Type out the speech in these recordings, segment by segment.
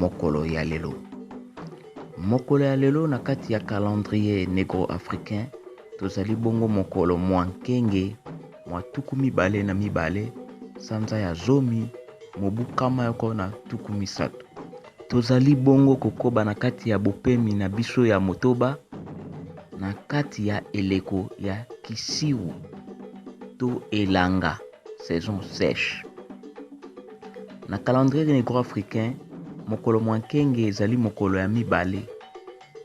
Mokolo ya lelo. Mokolo ya lelo na kati ya calendrier negro-africain tozali bongo mokolo mwa nkenge mwa tuku mibale na mibale sanza ya zomi mobu kama yoko na tuku misato. Tozali bongo kokoba na kati ya bopemi na biso ya motoba na kati ya eleko ya kisiwu to elanga saison sèche. Na calendrier negro-africain, mokolo mwa nkenge ezali mokolo ya mibale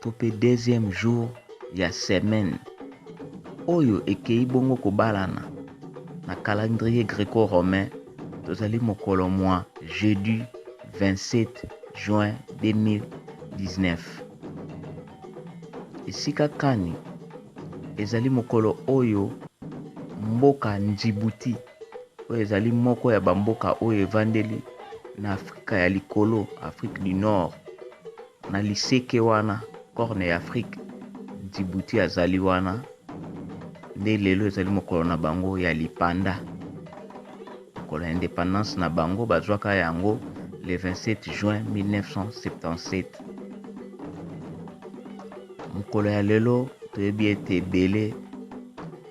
to mpe deuxième jour ya semaine, oyo ekeyi bongo kobalana na calendrier greco-romain, tozali mokolo mwa jeudi 27 juin 2019. Esika kani ezali mokolo oyo mboka Ndjibouti? oyo ezali moko ya bamboka oyo evandeli na afrika ya likolo afrique du nord na liseke wana corne ya afrique djibouti azali wana nde lelo ezali mokolo na bango ya lipanda mokolo ya independance na bango bazwaka yango le 27 juin 1977 Mokolo ya lelo, toyebi ete ebele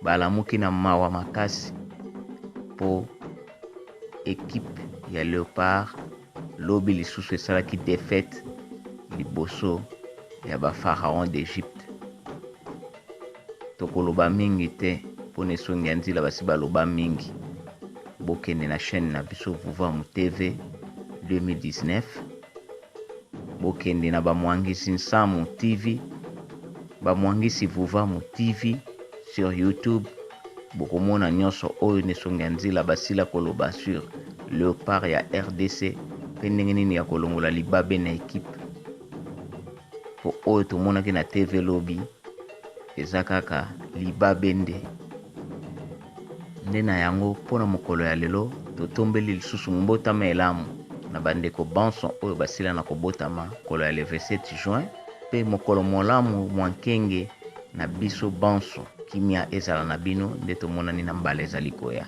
balamuki na mawa makasi mpo equipe ya Leopards lobi lisusu esalaki defaite liboso ya ba Pharaons d'Egypte. Tokoloba mingi te mpo na esongi ya nzila basi baloba mingi. Bokende na chaine na biso Vuvamu TV 2019. Bokende na ba muangisi nsamu TV, ba muangisi vuvamu TV sur youtube bokomona nionso oyo nde songi ya nzila basila koloba sur leopard ya rdc pe ndenge nini ya kolongola libabe na equipe po oyo tomonaki na TV lobi eza kaka libabe nde. Nde na yango, mpo na mokolo ya lelo, totombeli lisusu Mbotama elamu na bandeko banso oyo basila na kobotama mokolo ya le 27 juin, mpe mokolo molamu mwa nkenge na biso banso. Kimia ezala na bino, nde tomonani na mbala ezali koya.